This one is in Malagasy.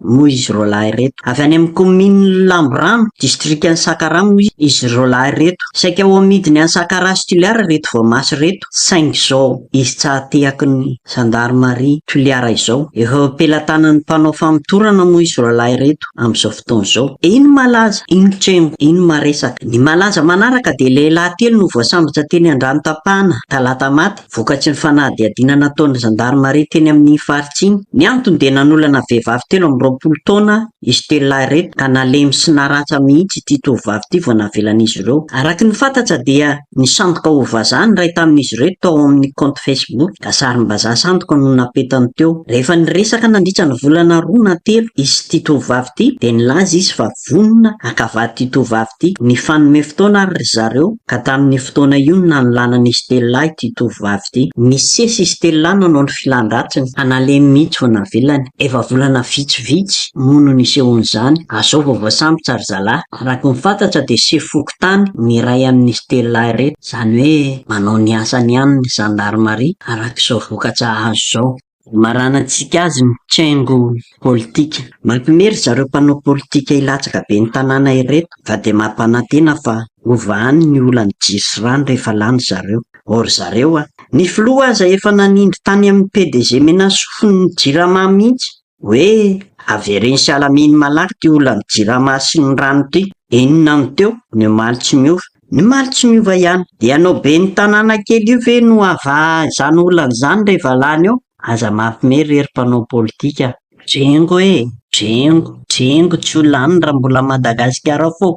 moa izy roalahy ireto. Avy any amin'ny kaominin'i Lamborano, distrikan'i Sakara moa izy roalahy ireto. Saika ho amidiny any Sakara sy Toliara ireto voamaso ireto, saingy izao izy tsy hahatehaky ny zandarimaria Toliara izao. Efa eo am-pelatanan'ny mpanao famotorana moa izy roalahy ireto amin'izao fotoana izao. Iny malaza, iny trengo, iny maresaka. Ny malaza manaraka dia lehilahy telo no voasambotra teny Andranotampana, talata maty, Vokatry ny fanadihadiana nataon'ny zandarimaria teny amin'iny faritra iny, ny antony dia nanolana vehivavy telo amby roapolo taona i Stella ireto ka nalemy sy naratra mihitsy ity tovovavy ity vao navelan'izy ireo. Araka ny fantatra dia nisandoka ho vazaha ny iray tamin'izy ireto tao amin'ny kaonty Facebook ka sarim-bazaha sandoka no napetany teo. Rehefa niresaka nandritra ny volana roa na telo izy sy ity tovovavy ity dia nilaza izy fa Vonona haka vad'ity tovovavy ity. Nifanome fotoana àry ry zareo, ka tamin'io fotoana io no nanolanan'i Stella ity tovovavy ity. Nisesy i Stella nanao ny filan-dratsiny, ka nalemy mihitsy vao navelany. Efa volana vitsivitsy moa no nisehoan'izany, ary izao vao voasambotra ry zalahy. Araka ny fantatra dia sefo fokontany ny iray amin'i Stella ireto, izany hoe manao ny asany ihany ny zandarimaria, araka izao vokatra azo izao. Imaranantsika azy ny cengo politika. Mampime ry zareo mpanao politika hilatsaka be ny tanàna ireto fa dia mampanantena fa hova any ny olan'ny jiro sy rano rehefa lany zareo. Ô ry zareo a! Ny filoha aza efa nanindry tany amin'ny PDG Menasofin'ny ny jirama mihitsy hoe avereno sy alamino malaky ity olan'ny jirama sy ny rano ity. Inona no teo ny omaly tsy miova? Ny maly tsy miova ihany. De ianao ben'ny tanàna kely io ve no havaha izany olana izany re valahany eo? Aza mampme re ry mpanao politika a! Drengo e! Drengo! Drengo tsy ho lany raha mbola Madagasikara ao foa!